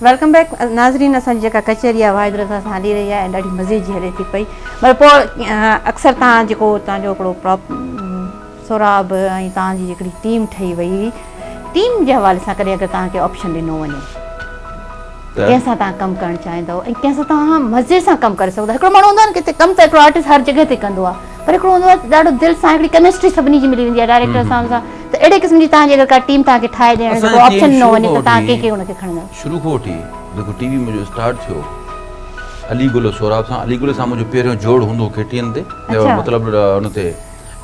Welcome back ناظرين اسان جي جيڪا ڪچهري آهي واحد رضا سان هلي رهي آهي ۽ ڏاڍي مزي جي هلي ٿي پئي مگر پوء اڪثر تان جيڪو تان جو هڪڙو سهراب ۽ توهان جي هڪڙي ٽيم ٺهي وئي هئي ٽيم جي حوالي سان ڪڏهن اگر توهان کي آپشن ڏنو وڃي ته ڪنهن سان توهان ڪم ڪرڻ چاهيندؤ ۽ ڪنهن سان توهان مزي سان ڪم ڪري سگهندؤ هڪڙو ماڻهو هوندو آهي نه ڪٿي ڪم ته هڪڙو آرٽسٽ هر جڳهه تي ڪندو آهي پر هڪڙو هوندو آهي ڏاڍو دل سان هڪڙي ڪيمسٽري سڀني جي ملي ويندي آهي ڊائريڪٽر سان سان ته اهڙي قسم جي توهان جي اگر ڪا ٽيم توهان کي ٺاهي ڏيڻ جو آپشن ڏنو وڃي ته توهان ڪنهن کي ان کي کڻندؤ شروع کان وٺي جيڪو ٽي وي منهنجو اسٽارٽ ٿيو علي گل سهراب سان علي گل سان منهنجو پهريون جوڙ هوندو هو ڪي ٽي اين تي مطلب ان تي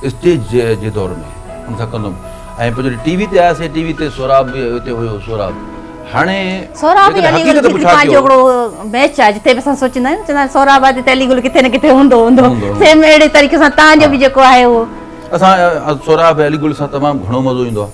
اسٽيج جي دور ۾ ان سان ڪندو هيم ۽ پوء جڏهن ٽي وي تي آياسين ٽي وي تي سهراب به اتي هيو سهراب هاڻي سهراب جي علي گل جي پنهنجو هڪڙو ميچ آهي جتي به اسان سوچيندا آهيون چوندا آهن سهراب آهي تي علي گل ڪٿي نه ڪٿي هوندو هوندو سيم اهڙي طريقي سان تهان جو به جيڪو آهي اهو اسان سهراب علي گل سان تمام گهڻو مزو ايندو آهي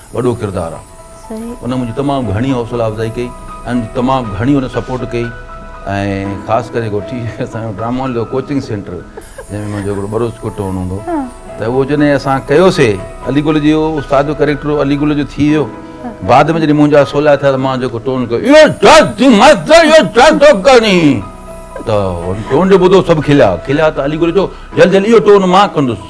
وڏو ڪردار آ ان منهنجي تمام گهڻي حوصلا افزائي ڪئي ۽ تمام گهڻي ان سپورٽ ڪئي ۽ خاص ڪري جيڪو ٽي وي اسان جو ڊرامو هليو ڪوچنگ سينٽر جنهن ۾ منهنجو هڪڙو ٻروچ ڪٽ هئڻو هوندو هو ته اهو جڏهن اسان ڪيوسي علي گل جي اهو استاد جو ڪريڪٽر علي گل جو ٿي ويو بعد ۾ جڏهن منهنجا سولا ٿيا ته مان جيڪو ٽون ڪيو اهو جاز جي مست اهو جاز ٿو ڪري ته ٽون جو ٻڌو سڀ کليا کليا ته علي گل چيو جلد جلد اهو ٽون مان ڪندس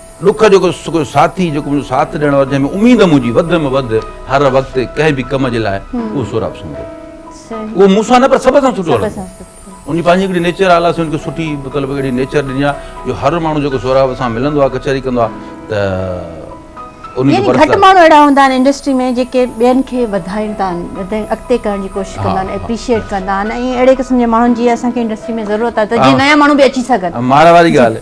ڏک جو ڪو ساٿي جيڪو منهنجو ساٿ ڏيڻ وارو جنهن ۾ اميد منهنجي وڌ ۾ وڌ هر وقت ڪنهن به ڪم جي لاء اهو سهراب سنگهه هو اهو مون سان نه پر سڀ سان سٺو هلندو هو ان پنهنجي هڪڙي نيچر آلا سين کي سٺي مطلب اهڙي نيچر ڏني آهي جو هر ماڻهو جيڪو سهراب سان ملندو آهي ڪچهري ڪندو آهي ته ان جي گهٽ ماڻهو اهڙا هوندا آهن انڊسٽري ۾ جيڪي ٻين کي وڌائين ٿا اڳتي ڪرڻ جي ڪوشش ڪندا آهن اپريشيئيٽ ڪندا آهن ۽ اهڙي قسم جي ماڻهن جي اسان کي انڊسٽري ۾ ضرورت آهي ته جيئن نيا ماڻهو به اچي سگهن ماڙ واري ڳالهه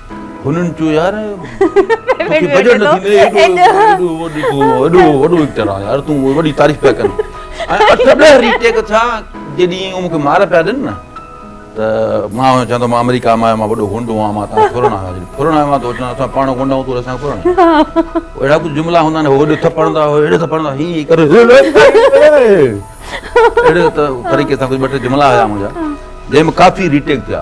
هنن چيو يار توکي بجٽ نه ٿيندي ايڏو وڏو وڏو ايڪٽر آهي يار تون وڏي تعريف پيا ڪرين ۽ اٺ ڏهه ري ٽيڪ ٿيا جڏهن مون کي مار پيا ڏين نه ته مان چوان ٿو مان آمريڪا مان آيو مان وڏو غنڊو آهيان مان تان ڦرڻ آيو آهيان ڦرڻ آيو آهيان ته چوان اسان پاڻ غنڊا آهيون تون اسان کي ڦرڻ آهي اهڙا ڪجهه جملا هوندا آهن هوڏي ٿڦڙندا هو هيڏي ٿڦڙندا هي ڪري اهڙي طريقي سان ڪجهه ٻه ٽي جملا هيا منهنجا جنهن ۾ ڪافي ري ٽيڪ ٿيا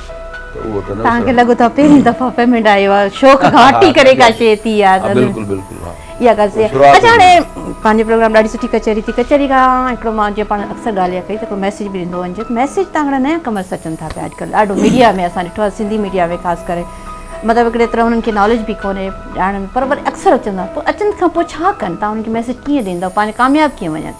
توهان کي لڳو ٿا پهرين دفعا پيمنٽ آيو آهي شوق کان هٽي ڪري ڪا شيء ٿي آ بلڪل بلڪل ها اها ڳالهه صحيح آهي اچا هاڻي پنهنجي پروگرام ڏاڍي سٺي ڪچهري ٿي ڪچهري کان هڪڙو مان جيئن پاڻ اڪثر ڳالهه اها ڪئي ته هڪڙو ميسيج به ڏيندو وڃجي ميسيج تان هڪڙا نيا ڪمرس اچن ٿا پيا اڄڪلهه ڏاڍو ميڊيا ۾ اسان ڏٺو آهي سنڌي ميڊيا ۾ خاص ڪري مطلب هڪڙي طرح انهن کي ناليج به ڪونهي ڄاڻن پر وري اڪثر اچن ٿا پوء اچن کان پوء ڇا ڪن تان انهن کي ميسيج ڪيئن ڏيندو پنهنجي ڪامياب ڪيئن وڃن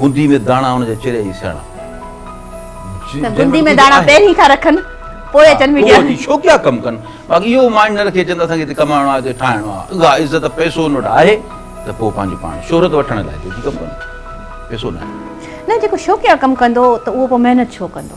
گوندي ۾ داڻا ان جا چريا ئي سياڻا. ته گوندي ۾ داڻا پهرين کان رکن پوء اچن ميڊيا ۾. پوء اچي ڇو ڪيا ڪم ڪن. باقي اهو مائنڊ نه رکي اچن ته اسان کي هتي ڪمائڻو آهي هتي ٺاهڻو آهي. اها عزت پئسو ان وٽ آهي ته پوء پنهنجي پاڻ شهرت وٺڻ لاء ٿو اچي ڪم ڪن. پئسو ناهي. نه جيڪو شوقيا ڪم ڪندو ته اهو پوء محنت ڇو ڪندو.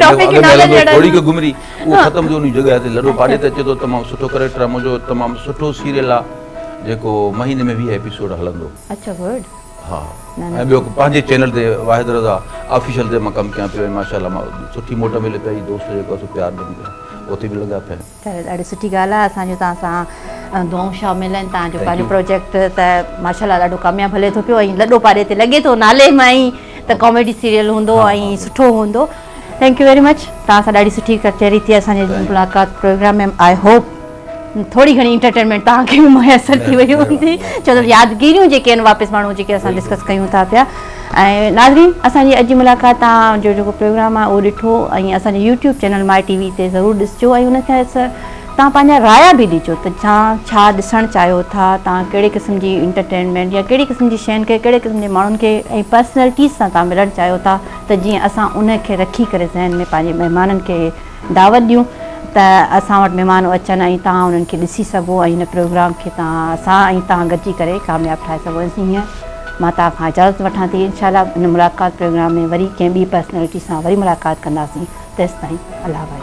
ٽاپڪ ئي نالن جهڙا ٿوري ڪا گمري اهو ختم جو انهي جڳهه تي لڏو پاڙي تي اچي ٿو تمام سٺو ڪريڪٽر آهي منهنجو تمام سٺو سيريل آهي جيڪو مهيني ۾ ويهه ايپيسوڊ هلندو اچا گڊ ها ۽ ٻيو پنهنجي چينل تي واحد رضا آفيشل تي مان ڪم ڪيان پيو ۽ ماشاءالله مان سٺي موٽ ملي پئي دوست جيڪو سو پيار ڏين پيا اتي به لڳا پيا آهيون ته ڏاڍي سٺي ڳالهه آهي اسان جون توهان سان دعائون شامل آهن توهان جو پنهنجو پروجيڪٽ ته ماشاء الله ڏاڍو ڪامياب هلي ٿو پيو ۽ لڏو پاڏي تي لڳي ٿو نالي مان ئي ته ڪاميڊي سيريل هوندو ۽ سٺو هوندو ٿينڪ يو ويري مچ توهان سان ڏاڍي سٺي ڪچهري ٿي اسان جي ملاقات پروگرام ۾ آئي هوپ ٿوري گهڻي انٽرٽينمينٽ توهان کي به ميسر ٿي وئي هوندي ڇو ته يادگيريون جيڪي آهن واپس ماڻهو جيڪي اسان ڊسڪس ڪيون ٿا پيا ۽ ناظرين اسان جي اڄ جي ملاقات تان جو جيڪو پروگرام آهي اهو ڏٺو ۽ اسان جي YouTube channel My TV تي ضرور ڏسجو ۽ ان کي تان پنهنجا رايا به ڏجو ته تان ڇا ڏسڻ چاهيو ٿا تان ڪهڙي قسم جي انٽرٽينمينٽ يا ڪهڙي قسم جي شين کي ڪهڙي قسم جي ماڻهن کي ۽ پرسنالٽيز سان تان ملڻ چاهيو ٿا ته جيئن اسان ان کي رکي ڪري ذهن ۾ پنهنجي مهمانن کي دعوت ڏيون ته اسان وٽ مھمان اچن ۽ توھان انھن کي ڏسي سگھو ۽ ھن پروگرام کي توھان سان ۽ توھان گڏجي ڪري ڪامياب ٺاھي سگھو انسي ھينئر مان توھان کان اجازت وٺان ٿي انشاء الله ھن ملاقات پروگرام ۾ وري ڪنھن ٻي پرسنلٽي سان وري ملاقات ڪنداسين تيستائين الله بھاء.